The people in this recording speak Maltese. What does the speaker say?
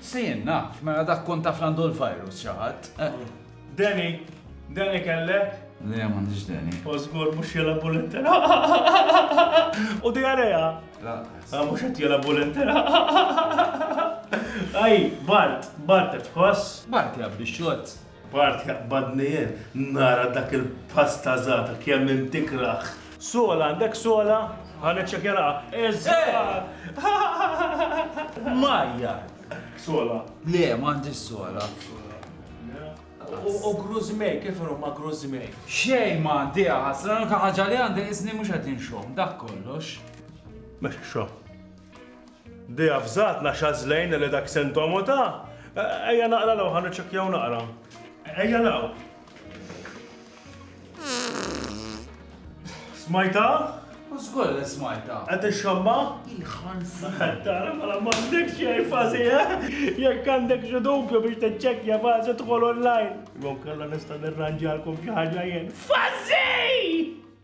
Se jien naf, mela dak kont taf l-għandu l-virus xi ħadd. Deni, Deni kellek? Le, m'għandix Deni. U żgur mhux jela bulenter. U dijareja? La. Ah, mhux qed jela bulenter. Aj, Bart, Bart qed tħoss? Bart jabbi xott. B'art jaqbadni jien nara dak il-pass ta' żgħata kemm int tikrah. Sola, għandek sola? Ħa niċċekjaraha. Iż-żgħar! Mgħajjar! Sola. Le, m'għandix sola. U gruż mej, kif inhu ma' gruż mej? Xejn m'għandi aħasra, l-unika ħaġa li għandi qisni mhux qed inxomm, dak kollox. Mhux xogħol. Dea f'żgħatna x'għażlejna li dak San Tomo ta? Ejja naqra l-ewwel, ħa niċċekkjaw naqra. Ejja l-ewwel. Smajta? U żgur li smajta. Qed ixxamma? Il-ħansi. Tara mela m'għandek xejn fażi, eh? Jekk għandek xi dubju biex tiċċekkja fażi tħol online. Jew kellha nista' nirranġalkom xi ħaġa jien. Fażi!